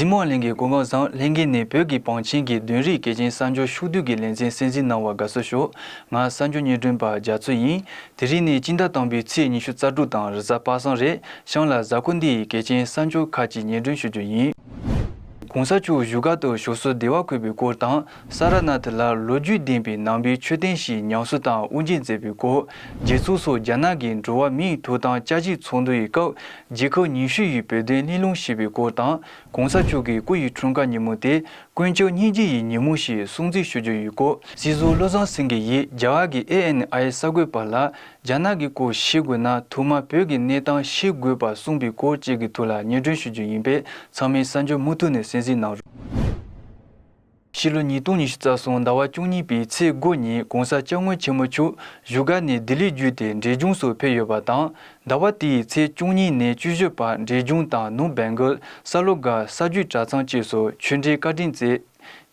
གཟིགས་མོ་གླིང་གི་གོ་འགོ་བཟང་ལྷན་རྒྱས་ནས་བོད་ཀྱི་བང་ཆེན་གྱི་བདུན་རིག་གལ་ཆེན་གསར་འབྱོར་ཕྱོགས་བསྡུས་ཀྱི་ལེ་ཚན་གསན་གཟིགས་གནང་བར་དགའ་བསུ་ཞུ། ང་གསར་འབྱོར་ཉེ་དྲུང་པ་རྒྱ་མཚོ་ཡིན། དེ་རིང་ནི་སྤྱི་ཟླ་དང་པོའི་ཚེས་ཉི་ཤུ་རྩ་དྲུག་དང་རི་གཟའ་དཔག་བསམ་རས་ཤང་ལ་གཟའ་འཁོར་འདི་ཡི་གལ་ཆེན་གསར་འབྱོར་ཁག་ཅིག་ཉེར་སྒྲོན་ཞུ་རྒྱུ་ཡིན། གོང་ས་མཆོག་བཞུགས་སྒར་དུ་ཞོགས་སུ་བདེ་བར་འཁོད་པའི་སྐོར་དང་ས་ར་ནཱ་ཐི་ལར་ལོ་རྒྱུས་ལྡན་པའི་ནང་པའི་མཆོད་རྟེན་ཞིག་ཉམས་གསོ་དང་དབུ་འབྱེད་མཛད་པའི་སྐོར་རྗེ་བཙུན་སོགས་རྒྱ་ནག་གི་འགྲོ་བ་མིའི་ཐོབ་ཐང་བཅའ་གཞིག་ཚོགས་འདུ་ཡི་སྐབས་རྗེ་ཁག་ཉི་ཤུ་ཡི་བོད་དོན་གླེང་སློང་བྱས་པའི་སྐོར་དང་གོང་ས་མཆོག་གི་སྐུ་ཡི་འཁྲུངས་སྐར་ཉིན་མོ་དེ་དཀོན་མཆོག་སྙིང་རྗེ་ཡི་ཉིན་མོ་ཞེས་སྲུང་བརྩི་ཞུ་རྒྱུ་ཡོད་སྐོར་སྲིད་ཟུར་བློ་བཟང་སེང་གེ་ཡིས་རྒྱ་གར་གྱི ANI གསར་འགོད་པ་ལ་རྒྱ་ནག་གི་སྐོར་ཤེས་དགོས་ན་ཐུག་མ་བོད་ཀྱི་གནས་སྟངས་ཤེས་དགོས་པར་གསུངས་པའི་སྐོར་བཅས་ཀྱི་ཐུགས་ལ་སྙན་སྒྲོན་ཞུ་རྒྱུ་ཡིན་པས་ཚང་མས་གསར་འགྱུར་མུ་མཐུད་ནས་གསན་གཟིགས་གནང་རོགས། ཕྱི་ལོ་ཉིས་སྟོང་ཉི་ཤུ་རྩ་གསུམ་ཟླ་བ་བཅུ་གཉིས་པའི་ཚེས་དགུ་ཉིན་གོང་ས་སྐྱབས་མགོན་ཆེན་མོ་ཆུ་བཞུགས་སྒར་ནས་ལྡི་ལིར་བརྒྱུད་དེ་འབྲས་ལྗོངས་སུ་ཕེབས་ཡོད་པ་དང་ཟླ་བ་དེའི་ཚེས་བཅུ་གཉིས་ནས་བཅུ་བཞི་བར་འབྲས་ལྗོངས་དང་ནུབ་སྦེལ་འགོལ་ས་ལོ་དགའ་ས་རྒྱུད་གྲྭ་ཚང་བཅས་སུ་ཆོས་འབྲེལ་བཀའ་དྲིན་བསྩལ།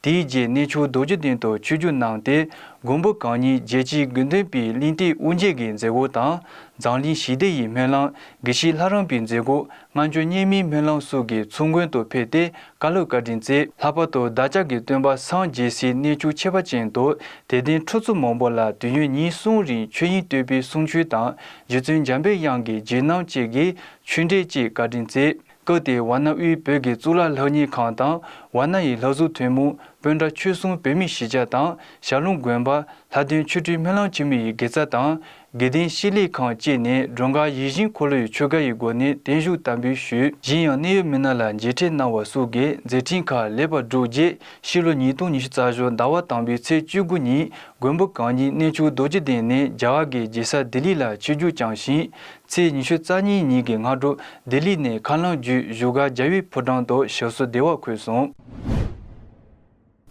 དེའི་རྗེས་གནས་ཆུང་རྡོ་རྗེ་གདན་དུ་ཆོས་བརྒྱུད་གནང་སྟེ་མགོན་པོ་གང་ཉིད་རྒྱལ་སྤྱིའི་དགེ་འདུན་པའི་གླིང་སྟེགས་དབུ་འབྱེད་ཀྱི་མཛད་སྒོ་དང་འཛམ་གླིང་ཞི་བདེ་ཡི་སྨོན་ལམ་དགེ་བཤེས་ལྷ་རམས་པའི་མཛད་སྒོ་སྔ་འགྱུར་སྙིང་མིའི་སྨོན་ལམ་གསུང་གི་ཚུལ་མགོན་དུ་ཕེབས་ཏེ་བཀའ་སློབ་བཀའ་དྲིན་བསྩལ། ལྷག་པར་དུ་བདག་ཅག་གི་སྟོན་པ་སངས་རྒྱས་སྲིད་གནས་བཅུ་ཆེ་བ་ཅན་དུ་དད་ལྡན་ཁྲོ་ཚུགས་མང་པོ་ལ་དུས་ཡུན་ཉིན་གསུམ་རིང་ཆོས་དབྱིངས་བསྟོད་པའི་གསུང་ཆོས་དང་རྗེ་བཙུན་འཇམ་པའི་དབྱངས་ཀྱི་རྗེས་གནང་བཅས་ཀྱི་ཆོས་འབྲེལ་བཅས་བཀའ་དྲིན་བསྩལ། སྐབས་དེའི་ཝཱ་ན་དབུས་བོད་ཀྱི་གཙུག་ལག་ལྷ་གཉེར་ཁང་དང་ཝཱ་ན་ཡི་ལྷ་གཟུགས་ཐུན་མོང་དཔོན་གྲྭ་ཆོས་སྲུང་བོད་མི་བཞི་ཆ་དང་ཞྭ་ལུང་དགོན་པ་ལྷ་སྟོན་ཆོས་ཁྲིའི་སྨོན་ལམ་འཆི་མེད་ཡི་དགེ་རྩ་དང་དགེ་ལྡན་ཤེས་ལེགས་ཁང་བཅས་ནས་སྒྲོལ་དཀར་ཡིད་བཞིན་འཁོར་ལོའི་ཆོས་བཀའ་ཡི་སྒོ་ནས་བརྟན་བཞུགས་དམ་འབུལ་ཞུས། གཞན་ཡང་གནད་ཡོད་མི་སྣ་ལ་མཇལ་འཕྲད་གནང་བ་སོགས་ཀྱི་མཛད་འཕྲིན་ཁག་ལེགས་པར་གྲུབ་རྗེས་ཕྱི་ལོ་ཉིས་སྟོང་ཉི་ཤུ་རྩ་བཞི་ཟླ་བ་དང་པོའི་ཚེས་བཅུ་དགུ་ཉིན་མགོན་པོ་གང་ཉིད་གནས་ཆུང་རྡོ་རྗེ་གདན་ནས་རྒྱ་གར་གྱི་རྗེ་ས་ལྡི་ལི་ལ་ཆིབས་རྒྱུགས་བསྐྱངས་ཤིང། ཚེས་ཉི་ཤུ་རྩ་གཉིས་ཉིན་གྱི་སྔ་དྲོ་ལྡི་ལི་ནས་ཁ་ལང་བརྒྱུད་བཞུགས་སྒར་རྒྱ་བྷི་ཕོ་བྲང་དུ་ཞབས་སོར་བདེ་བར་འཁོད་སོང།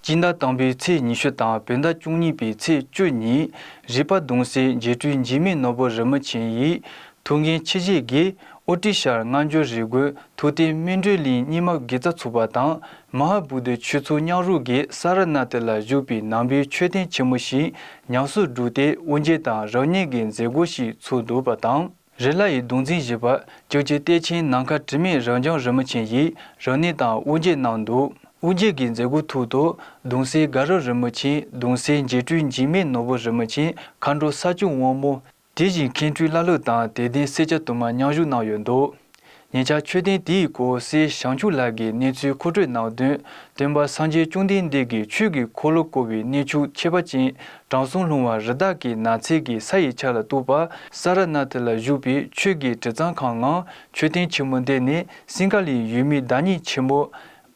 སྤྱི་ཟླ་དང་པོའི་ཚེས་ཉི་ཤུ་དང་བོད་ཟླ་བཅུ་གཉིས་པའི་ཚེས་བཅུ་ཉིན་རིག་པ་གདུང་སྲས་རྗེ་སྤྲུལ་འཇིགས་མེད་ནོར་བུ་རི་མོ་ཆེན་ཡིས་ཐུགས་འགན་ཆེ་བཞེས་དགེ་ཨོ་ཏི་ཤར་སྔ་འགྱུར་རི་རྒོད་ཐུགས་རྟེན་སྨིན་གྲོལ་གླིང་རྙིང་མ་དགེ་རྩ་ཚུགས་པ་དང་མ་ཧཱ་བུ་དྷའི་ཆོས་ཚུལ་སྙག་རུ་དགེ་ས་ར་ནཱ་ཐི་ལ་བཞུགས་པའི་ནང་པའི་མཆོད་རྟེན་ཆེན་མོ་ཞིག་ཉམས་སུ་བསྒྲུབས་ཏེ་དབུ་འབྱེད་དང་རབ་བསྙེན་གྱི་མཛད་སྒོ་ཞིག་ཚུགས་འདུག་པ་དང། རི་ལྷ་ཡི་གདུང་འཛིན་བཞི་པ་བཅུ་གཅིག་གཏེར་ཆེན་ནམ་མཁའ་དྲི་མེད་རབ་འབྱམས་རི་མོ་ཆེན་ཡིས་རང་གནས་དང་དབུ་འབྱེད་གནང་འདུག་དབུ་འབྱེད་ཀྱི་མཛད་སྒོའི་ཐུགས་དང་གདུང་སྲས་དགའ་རབ་རི་མོ་ཆེན་གདུང་སྲས་འཇིགས་སྤྲུལ་འཇིགས་མེད་ནོར་བུ་རི་མོ་ཆེན་མཁའ་འགྲོ་ས་བཅུ་དབང་མོ། དེ་བཞིན་མཁན་སྤྲུལ་བླ་ལྷུ་དང་དད་ལྡན་སེར་སྐྱ་དུ་མ་མཉམ་བཞུགས་གནང་ཡོད་འདུག་ཉེ་ཆར་མཆོད་རྟེན་དེའི་སྐོར་གསེར་ཞང་ཕྱུག་ལགས་ཀྱིས་གནས་ཚུལ་མཁོ་སྤྲོད་གནང་དོན། སྟོན་པ་སངས་རྒྱས་བཅོམ་ལྡན་འདས་ཀྱིས་ཆོས་ཀྱི་འཁོར་ལོ་བསྐོར་བའི་གནས་ཆུ་ཆེ་བ་ཅན་དྲང་སྲོང་ལྷུང་བ་རི་དྭགས་ཀྱི་ནགས་ཚལ་གྱི་ས་ཡི་ཆ་ལ་གཏུགས་པ་ས་ར་ནཱ་ཐི་ལ་བཞུགས་པའི་ཆོས་ཀྱི་དྲི་གཙང་ཁང་ནང་མཆོད་རྟེན་ཆེན་མོ་འདི་ནི་སིང་ག་ལའི་ཡུལ་མིའི་བདག་ཉིད་ཆེན་མོ།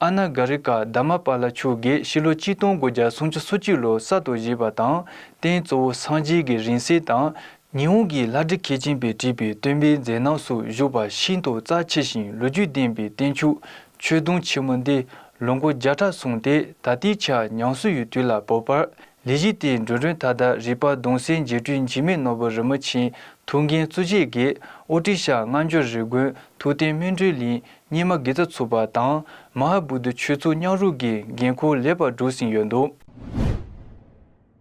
Anna Garika Dhammapala མཆོག་གིས་ཕྱི་ལོ་གཅིག་སྟོང་དགུ་བརྒྱ་སུམ་ཅུ་སོ་གཅིག་ལོར་གསར་དུ་བཞེས་པ་དང་རྟེན་གཙོ་བོ་སངས་རྒྱས་ཀྱི་རིང་བསྲེལ་དང་ཉི་འོང་གི་ལྷ་འདྲེ་མཁས་ཆེན་པས་བྲིས་པའི་སྟོན་པའི་མཛད་རྣམ་སོགས་བཞུགས་པ་ཤིན་ཏུ་རྩ་ཆེ་ཞིང་ལོ་རྒྱུས་ལྡན་པའི་བསྟན་ཕྱུག་ཆོས་དུང་ཆེན་མོ་འདི་ལོ་མགོ་བརྒྱ་ཕྲག་སོང་སྟེ་ད་ལྟའི་ཆར་ཉང་སུ་ཡུལ་དུས་ལ་བབ་པར་ལས་གཞི་དེའི་མགྲོན་མགྲོན་མཐའ་དག་རིག་པ་གདུང་སེལ་རྗེ་སྤྲུལ་འཇིགས་མེད་ནོར་བུ་རིན་པོ་ཆེ་ཐུགས་འགན་གཙོ་བྱས་དགེ་ཨོ་ཏི་ཤ་སྔ་འགྱུར་རི་དགོན་ཐུགས་བསྟན་སྨིན་གྲོལ་གླིང་སྙེ་མ་དགེ་རྩ་ཚུགས་པ་དང་མ་ཧཱ་བུ་དུ་ཆོས་ཚུགས་ཉག་རུག་གི་འགན་ཁུར་ལེགས་པར་བསྒྲུབས་ཟིན་ཡོད་འདུག།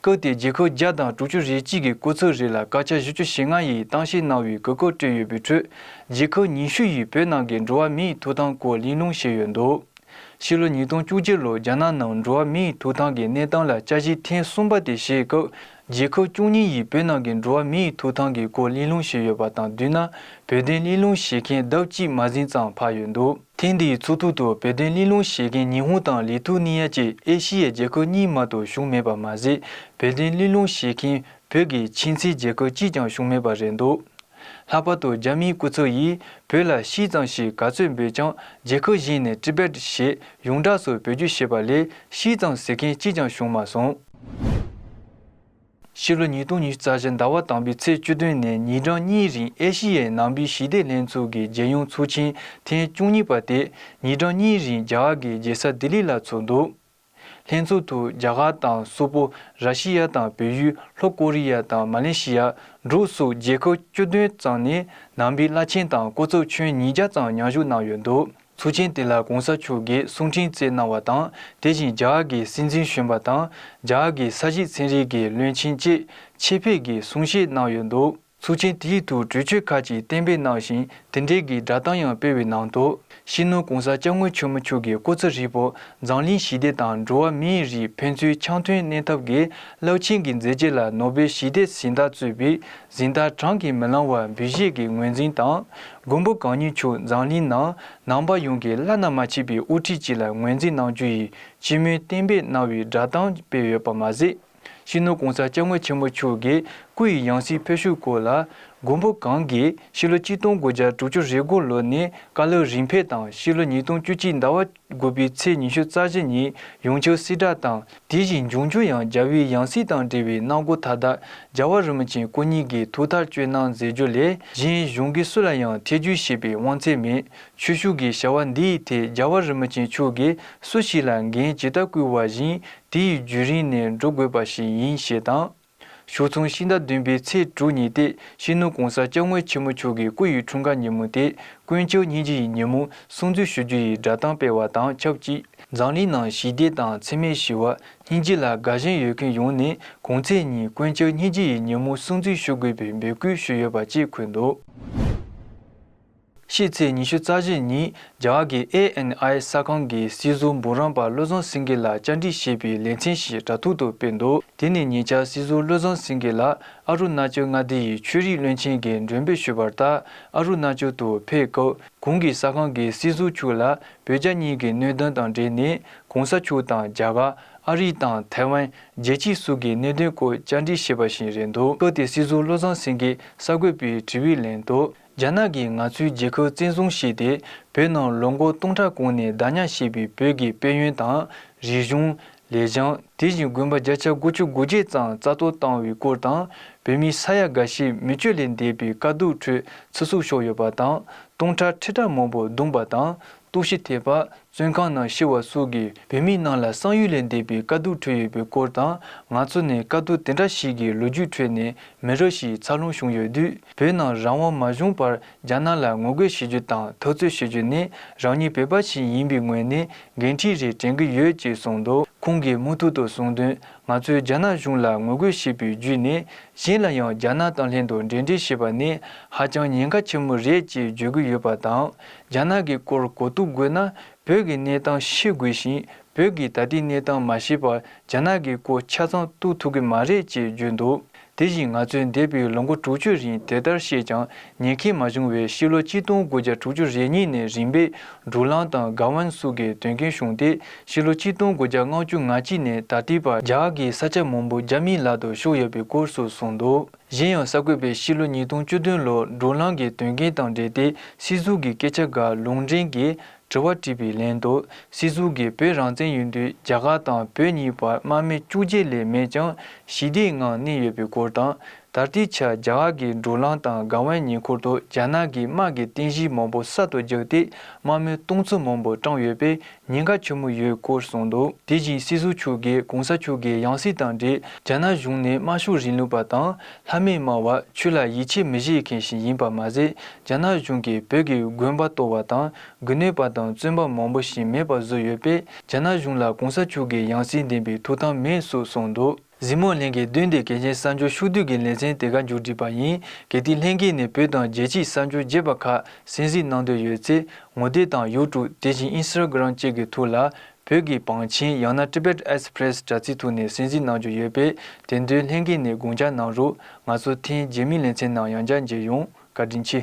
བཀོད་དེ་འགྱིག་ཁུག་བརྒྱ་དང་དྲུག་ཅུ་རེ་གཅིག་གི་བརྐོས་ཚོད་རེ་ལ་སྐར་ཆ་བཞི་ཅུ་ཞེ་ལྔ་ཡི་གཏམ་བཤད་གནང་བའི་གོ་སྐབས་སྤྲོད་ཡོད་པའི་ཁྲོད་འགྱིག་ཁུག་ཉི་ཤུ་ཡིས་བོད་ནང་གི་འགྲོ་བ་མིའི་ཐོབ་ཐང་སྐོར་གླེང་སློང་བྱས་ཡོད་འདུག་ཕྱི་ལོ་ཉིས་སྟོང་བཅུ་བརྒྱད་ལོར་རྒྱ་ནག་ནང་འགྲོ་བ་མིའི་ཐོབ་ཐང་གི་གནས་སྟངས་ལ་དཔྱད་གཞི་ཐེངས་གསུམ་པ་དེ་བྱེད་སྐབས་འགྱིག་ཁུག་བཅུ་གཉིས་ཡིས་བོད་ནང་གི་འགྲོ་བ་མིའི་ཐོབ་ཐང་གི་སྐོར་གླེང་སློང་བྱས་ཡོད་པ་དང་བསྡུས་ན་བོད་དོན་གླེང་སློང་བྱེད་མཁན་ལྡབ་གཅིག་མ་ཟིན་ཙམ་འཕར་ཡོད་འདུག། ཐེངས་འདིའི་ཚོགས་ཐུག་ཏུ་བོད་དོན་གླེང་སློང་བྱེད་མཁན་ཉི་ཧོང་དང་ལི་ཐུ་ནི་ཡ་བཅས་ཨེ་ཤི་ཡའི་རྒྱལ་ཁབ་གཉིས་མ་གཏོགས་བཞུགས་མེད་པ་མ་ཟད་བོད་དོན་གླེང་སློང་བྱེད་མཁན་བོད་ཀྱི་ཕྱི་མཚེའི་རྒྱལ་ཁབ་གཅིག་ཀྱང་བཞུགས་མེད་པ་རེད་འདུག་ལྷག་པར་དུ་རྒྱ་མིའི་སྐུ་ཚབ་ཡིས་བོད་ལ་ཤིས་ཙང་ཞེས་ག་ཚོད་འབོད་ཀྱང་རྒྱལ་ཁབ་གཞན་ནས Tibet ཞེས་ཡོངས་གྲགས་སུ་བོད་བརྒྱུད་ཞེས་པ་ལས་ཤིས་ཙང་ཟེར་མཁན་གཅིག་ཀྱང་བྱུང་མ་སོང། ཕྱི་ལོ་ཉིས་སྟོང་ཉི་ཤུ་རྩ་བཞི་ཟླ་བ་དང་པོའི་ཚེས་བཅུ་བདུན་ནས་ཉིན་གྲངས་གཉིས་རིང་ཨེ་ཤེ་ཡའི་ནང་པའི་ཞི་བདེ་ལྷན་ཚོགས་ཀྱི་རྒྱལ་ཡོངས་ཚོགས་ཆེན་ཐེངས་བཅུ་གཉིས་པ་དེ་ཉིན་གྲངས་གཉིས་རིང་རྒྱ་གར་གྱི་རྒྱལ་ས་ལྡི་ལི་ལ་ཚོགས་འདུག་ལྷན་ཚོགས་ཐོག་རྒྱ་གར་དང་སོག་པོ་ར་ཤི་ཡ་དང་བལ་ཡུལ་ལྷོ་ཀོ་རི་ཡ་དང་མ་ལེ་ཤི་ཡ་འབྲུག་སོགས་རྒྱལ་ཁབ་བཅུ་བདུན་ཙམ་ནས་ནང་པའི་བླ་ཆེན་དང་སྐུ་ཚབ་ཁྱོན་ཉིས་བརྒྱ་ཙམ་མཉམ་ཞུགས་གནང་ཡོད་འདུག། ཚུལ་ཆེན་དེ་ལ་གོང་ས་མཆོག་གིས་གསུང་འཕྲིན་བསྩལ་གནང་བ་དང་དེ་བཞིན་རྒྱ་གར་གྱི་སྲིད་འཛིན་གཞོན་པ་དང་རྒྱ་གར་གྱི་ས་གཞི་ཚན་རིག་གི་བློན་ཆེན་བཅས་ཆེད་ཕེབས་ཀྱིས་གསུང་བཤད་གནང་ཡོད་འདུག། ཚུལ་ཆེན་དེའི་ཐུགས་གྲོས་ཆོད་ཁག་ཅིག་གཏན་འབེབས་གནང་ཞིང་དེ་འབྲེལ་གྱི་སྒྲ་གདངས་ཡང་སྤེལ་བའི་ནང་དུ། ཤིས་ནོར་གོང་ས་སྐྱབས་མགོན་ཆོས་མ་འཁྱུག་གི་སྐུ་ཚེ་ཧྲིལ་པོ་འཛམ་གླིང་ཞི་བདེ་དང་འགྲོ་བ་མིའི་རིགས་ཕན་ཚུན་འཆམ་མཐུན་གནས་ཐབས་ཀྱི་རླབས་ཆེན་གྱི་མཛད་རྗེས་ལ་ནོ་སྦེལ་ཞི་བདེ་གཟེངས་རྟགས་གཙོས་པའི་གཟེངས་རྟགས་བགྲང་གིས་མི་ལང་བར་འབུལ་བཞེས་ཀྱི་ངོས་འཛིན་དང། མགོན་པོ་གང་ཉིད་མཆོག་མཛངས་གླིང་ནང་ནང་པ་ཡོངས་ཀྱིས་བླ་ན་མ་མཆིས་པའི་དབུ་ཁྲིད་ཅིག་ལ་ངོས་འཛིན་གནང་རྒྱུ་ཡིས་སྤྱི་མོས་གཏན་འབེབས་གནང་བའི་སྒྲ་གདངས་སྤེལ་ཡོད་པ་མ་ཟད། ཕྱི་ནང་གོང་ས་སྐྱབས་མགོན་ཆེན་པོ་མཆོག་གི་སྐུ་ཡི་ཡང་སྲིད་ཕུལ་བྱུང་སྐོར་ལ། མགོན་པོ་གང་གིས་ཕྱི་ལོ་གཅིག་སྟོང་དགུ་བརྒྱ་དྲུག་ཅུ་རེ་དགུ་ལོ་ནས་བཀའ་སློབ་རིམ་འཕེལ་དང་ཕྱི་ལོ་ཉིས་སྟོང་བཅུ་གཅིག་ཟླ་བ་དགུ་པའི་ཚེས་ཉི་ཤུ་རྩ་བཞི་ཉིན་ཡུང་ཆོས་སྲིད་བྲག་དང་དེ་བཞིན་འབྱུང་འགྱུར་ཡང་རྒྱལ་བོའི་ཡང་སྲིད་དང་འབྲེལ་བའི་གནང་སྒོ་མཐའ་དག་རྒྱལ་བ་རིན་པོ་ཆེན་སྐུ་ཉིད་ཀྱིས་ཐུགས་ཐག་གཅོད་གནང་མཛད་རྒྱུ་ལས་གཞན་གཞུང་གི་སུ་ལ་ཡང་ཐེ་ཇུས་བྱེད་པའི་དབང་ཚད་མེད། ཆོས་ཞུགས་ཀྱི་བྱ་བ་འདི་ཡི་ཐད་རྒྱལ་བ་རིན་པོ་ཆེན་མཆོག་གིས་སུ་ཞིག་ལ་འགན་ཇི་ལྟར་བསྐུལ་བ་བཞིན་དེ་ཡི་བརྒྱུད་རིང་ནས་འགྲོ་དགོས་པ་ཞིག་ཡིན་ཞེས་དང། ཞོགས་མཚུངས་ཕྱི་ཟླ་བདུན་པའི་ཚེས་དྲུག་ཉིན་ཏེ་གཤེན་ནུ་གོང་ས་སྐྱབས་དངོས་ཆེན་མོ་མཆོག་གི་སྐུ་ཡི་འཁྲུངས་སྐར་ཉིན་མོ་སྟེ་དཀོན་མཆོག་སྙིང་རྗེ་ཡི་ཉིན་མོ་སྲུང་བརྩི་ཞུ་རྒྱུ་ཡི་སྒྲ་གདངས་སྤེལ་བ་དང་ཆབས་ཅིག་འཛམ་གླིང་ནང་ཞི་བདེ་དང་འཚེ་མེད་ཞི་བ་སྙིང་རྗེ་ལ་དགའ་ཞེན་ཡོད་མཁན་ཡོངས་ནས་གོང་ཚེས་ཉིན་དཀོན་མཆོག་སྙིང་རྗེ་ཡི་ཉིན་མོ་སྲུང་བརྩི་ཞུ་དགོས་པའི་འབོད་སྐུལ་ཞུས་ཡོད་པ་བཅས་འཁོད་འདུག། ཕྱི་ཚེས་ཉི་ཤུ་རྩ་བཞི་ཉིན་རྒྱ་གར་གྱི ANI གསར་ཁང་གིས་སྲིད་ཟུར་འབུམ་རམས་པ་བློ་བཟང་སེང་གེ་ལ་བཅར་འདྲི་ཞེས་པའི་ལེ་ཚན་ཞིག་དྲ་ཐོག་ཏུ་སྤེལ་འདུག་དེ་ནི་ཉེ་ཆར་སྲིད་ཟུར་བློ་བཟང་སེང་གེ་ལགས་ཨ་རུ་ན་ཅལ་མངའ་སྡེ་ཡི་ཆོས་རིག་བློན་ཆེན་གྱི་མགྲོན་འབོད་ཞུས་པར་ལྟར་ཨ་རུ་ན་ཅལ་དུ་ཕེབས་སྐབས་གུང་གི་གསར་ཁང་གི་སྲིད་ཟུར་ཕྱུག་ལ་བོད་རྒྱ་གཉིས་ཀྱི་གནོད་དོན་དང་འབྲེལ་ནས་གུང་ས་ཕྱུག་དང་རྒྱ་གར་ཨ་རི་དང་ཐའེ་ཝན་རྒྱལ་སྤྱིའི་སུག་གི་གནད་དོན་སྐོར་བཅར་འདྲི་བྱས་པ་ཞིག་རེད་འདུག་སྐབས་དེར་སྲིད་ཟུར་བློ་བཟང་སེང་གེས་གསར་འགོད་པའི་དྲི་བའི་ལན་དུ། རྒྱ་ནག་གིས་ང་ཚོའི་རྒྱལ་ཁབ་བཙན་བཟུང་བྱས་ཏེ་བོད་ནང་ལོ་མགོ་སྟོང་ཕྲག་གོང་ནས་བདག་ཉར་བྱས་པའི་བོད་ཀྱི་དཔལ་ཡོན་དང། རིག་གཞུང། ལས་བྱང། དེ་བཞིན་དགོན་པ་བརྒྱ་ཆ་དགུ་བཅུ་དགུ་བརྒྱད་ཙམ་རྩ་གཏོར་བཏང་བའི་སྐོར་དང་བོད་མི་ས་ཡ་འགའ་ཤས་མི་སྤྱོད་ལས་འདས་པའི་དཀའ་སྡུག་ཁྲོད་ཚེ་གཟུགས་ཤོར་ཡོད་པ་དང་སྟོང་ཕྲག་ཁྲི་ཕྲག་མང་པོ་རྡུང་པ་དང་གཏུག་བཤེར་ཐེབས་པ་བཙོན་ཁང་ནང་ཤི་བ་སོགས་ཀྱི་བོད་མི་རྣམས་ལ་བསམ་ཡུལ་ལས་འདས་པའི་དཀའ་སྡུག་ཁྲོད་ཡོད་པའི་སྐོར་དང་ང་ཚོ་ནི་དཀའ་སྡུག་དེ་འདྲ་ཞིག་གི་ལོ་རྒྱུས་ཁྲོད་ནས་མི་རབས་ཤིག་འཚར་ལོངས་བྱུང་ཡོད་དུས། བོད་ནང་རང་དབང་མ་བྱུང་བར་རྒྱ་ནག་ལ་ངོ་རྒོལ་བྱེད་རྒྱུ་དང་ཐབས་རྩོད་བྱེད་རྒྱུ་ནི་རང་ཉིད་བོད་པ་ཞིག་ཡིན་པའི་ངོས་ནས་འགན་འཁྲི་རེ་དྲན་གྱི་ཡོད་ཅེས་གསུངས་འདུག་ཁོང་གིས་མུ་མཐུད་དུ་གསུངས་དོན་ང་ཚོས་རྒྱ་ནག་གཞུང་ལ་ངོ་རྒོལ་བྱེད་པའི་བརྒྱུད་ནས་གཞན་ལ་ཡང་རྒྱ་ནག་དང་ལྷན་དུ་འབྲེལ་འདྲིས་བྱེད་པ་ནི་ཧ་ཅང་ཉེན་ཁ་ཆེན་མོ་རེད་ཅེས་བརྗོད་ཀྱི་ཡོད་པ་དང་རྒྱ་ནག་གི་སྐོར་གོ་ཐུག་དགོས་ན་བོད་ཀྱི་གནས་སྟངས་ཤེས་དགོས་ཤིང་བོད་ཀྱི་ད་ལྟའི་གནས་སྟངས་མ་ཤེས་པར་རྒྱ་ནག་གི་སྐོར་ཆ་ཚང་གཏུག་ཐུབ་ཀྱི་མ་རེད་ཅེས་བརྗོད་འདུག་དེ་བཞིན་ང་ཚོས་འདས་པའི་ལོ་འགོ་དྲུག་ཅུ་རིང་དེ་ལྟར་བཤད་ཀྱང་ཉན་ཁེ་མ་བྱུང་བས་ཕྱི་ལོ་གཅིག་སྟོང་དགུ་བརྒྱ་དྲུག་ཅུ་རེ་གཉིས་ནས་རིམ་པས་འབྲུག་གླང་དང་སྒ་ཝན་སུ་གའི་དོན་རྐྱེན་བྱུང་སྟེ་ཕྱི་ལོ་གཅིག་སྟོང་དགུ་བརྒྱ་ལྔ་བཅུ་ང་གཅིག་ནས་ད་ལྟའི་བར་རྒྱ་གར་གྱི་ས་ཆ་མང་པོ་རྒྱ་མིའི་ལག་ཏུ་ཤོར་ཡོད་པའི་སྐོར་སོགས་གསུངས་འདུག་གཞན་ཡང་གསར་འགོད་པས་ཕྱི་ལོ་ཉིས་སྟོང་བཅུ་བདུན་ལོར་འབྲུག་གླང་གི་དོན་རྐྱེན་དང་འབྲེལ་ཏེ་སྲིད་ཟུར་གྱི་སྐད་ཆ་འགའ་ལུང་འདྲེན་གྱིས་དྲི་བ་དྲིས་པའི་ལན་དུ་སྲིད་ཟུར་གྱིས་བོད་རང་བཙན་ཡོད་དུས་རྒྱ་གར་དང་བོད་གཉིས་བར་དམག་མི་བཅུ་བརྒྱད་ལས་མེད་ཀྱང་ཞི་བདེའི་ངང་གནས་ཡོད་པའི་སྐོར་དང། ད་ལྟའི་ཆར་རྒྱ་གར་གྱི་འགྲོ་ལམ་དང་སྒང་བའི་ཉེ་འཁོར་དུ་རྒྱ་ནག་གིས་དམག་གི་རྟེན་གཞི་མང་པོ་གསར་དུ་རྒྱག་སྟེ་དམག་མི་སྟོང་ཚོ་མང་པོ་བཀྲམ་ཡོད་པས་ཉེན་ཁ་ཆེན་མོ་ཡོད་སྐོར་གསུངས་འདུག་དེ་བཞིན་སྲིད་ཟུར་མཆོག་གིས་གོང་ས་མཆོག་གི་ཡང་སྲིད་དང་འབྲེལ་རྒྱ་ནག་གཞུང་ནས་དམར་ཤོག་རིང་ལུགས་པ་དང། ལྷ་མི་མང་བ་ཆོས་ལ་ཡིད་ཆེས་མི་བྱེད་མཁན་ཞིག་ཡིན་པ་མ་ཟད་རྒྱ་ནག་གཞུང་གིས་བོད་ཀྱི་དགོན་པ་གཏོར་བ་དང་དགུན་གནས་པ་དང་བཙོན་པ་མང་པོ་ཞིག་མེད་པ་བཟོས་ཡོད་པས་རྒྱ་ནག་གཞུང་ལ་གོང་ས་མཆོག་གི་ཡང་སྲིད་འདེམས་པའི་ཐུགས་དམ་མེད་སུ་སོང་འདུག། གཟིགས་མོ་ལྷན་རྒྱས་དོན་དེ་གལ་ཆེན་གསར་འབྱོར་ཕྱུག་བསྡུས་ཀྱི་ལེ་ཚན་དེ་ག་མཇུག་བསྒྲིལ་པ་ཡིན་གལ་ཏེ་ལྷན་རྒྱས་ནས་བོད་དང་རྒྱལ་སྤྱིའི་གསར་འབྱོར་རྒྱས་པ་ཁག་གསན་གཟིགས་གནང་འདོད་ཡོད་ཚེ་ངོ་དེབ་དང་ཡོའུ་ཀྲུག་དེ་བཞིན་ཨིན་སི་ར་གི་རང་བཅས་ཀྱི་ཐུགས་ལ་བོད་ཀྱི་བང་ཆེན་ཡང་ན Tibet Express དྲ་ཚིགས་ཐུག་ནས་གསན་གཟིགས་གནང་རྒྱུ་ཡོད་པས་དེ་འདུལ་ལྷན་ཁེ་ནས་དགུང་བྱ་གནང་རུག་ང་ཚོ་ཐེན་རྗེས་མི་ལེ་ཚན་ནང་ཡང་བསྐྱར་མཇལ་ཡོང་བཀའ་དྲིན་ཆེ།